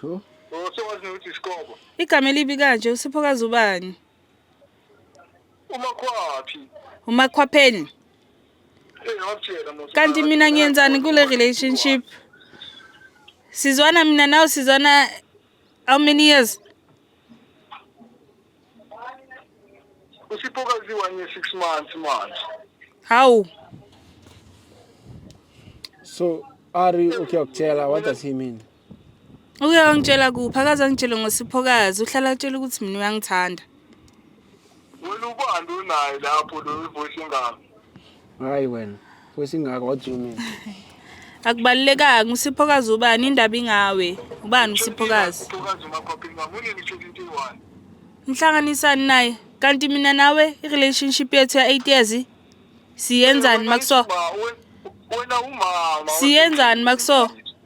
Sho. Usowazi nokuthi iskobo. Igama elibi kanje usiphokazi ubani? Umakhwaphi. Umakhwapheni. Kanti mina ngiyenzani kule relationship? Sizwana mina nawe sizwana how many years? Usiphokazi one year 6 months manje. How? So Ari, okay, Oktela, what does he mean? Uke wangitshela kuphi? Akaze angitshele ngosiphokazi. Uhlala atshela ukuthi mina uyangithanda. Wena ubani unaye lapho lo ivoice ingaka? Hayi wena. Voice ingaka what do you mean? Akubalulekanga usiphokazi ubani indaba ingawe. Ubani usiphokazi? Uphakazi umakhophi ngami unini shela into eyi-one. Ngihlanganisani naye? Kanti mina nawe i-relationship yethu ya 8 years siyenzani makuso? Ba, we- Wena umama. Siyenzani makuso?